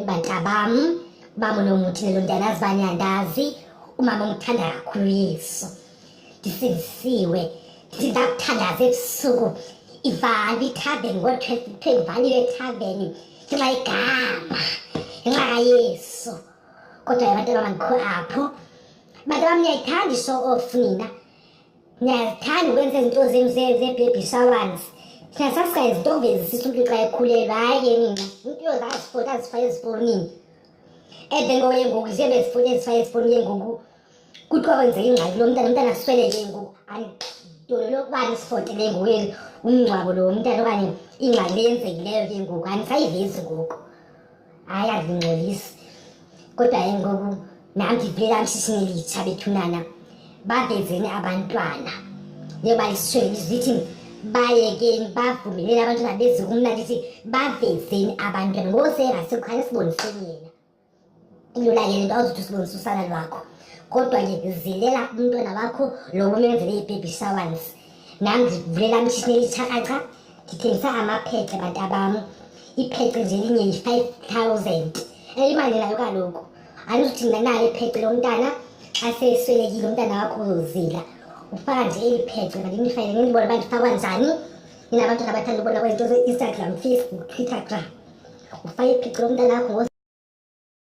Bantabam, umama unomuthi lelo ndiyana azibanye andazi umama ongithanda kakhulu yesu ndisindisiwe ndithi ndakuthandaza ebusuku ivali ithaveni ngo-twelve kuthiwe ivalile ethaveni ngenxa igama ngenxa kayesu kodwa yabantwana bamandikho apho bantu bam niyayithanda ishow off nina ndiyazithanda ukwenza izinto zenu zee-baby showers thina sasingayizito uvezisisa umntu xa ekhulelwa hayi ke nina umntu yozazifota azifake ezifowunini and then ngoye ngoku ziye bezifota ezifake ezifowunini ngoku kuthiwa kwenzeka ingxaki lo mntana umntana asweleke ngoku andidolo lokuba ndisifotele ngoku umngcwabo lo mntana okanye ingxaki leyenzekileyo ke ngoku andisayivezi ngoku hayi andingcolisi kodwa ke ngoku nam ndivela mshishini elitsha bethunana bavezeni abantwana njengoba lisweli lizithi bayekeni bavumeleni abantwana bezi kumna ndithi bavezeni abantwana ngoseerasikukhange siboniseni yena ilula ke le nto awuzothi usibonisa usana lwakho kodwa ke zilela umntwana wakho lo umenzele ibhebhi showance nam ndivulela mshishini elitshakraqha ndithengisa amaphece bantu abam iphece nje linye yi-five thousand elimanelayo kaloku andizuthi mna nalo iphece lomntana xa seswelekile umntana wakho uzozila ufaka nje eli phece mandinifayele nindibona uba ndifakwa njani nina abantwana abathanda ubona kwezinto ze-instagram facebook twittergram ufake iphece lomntana wakho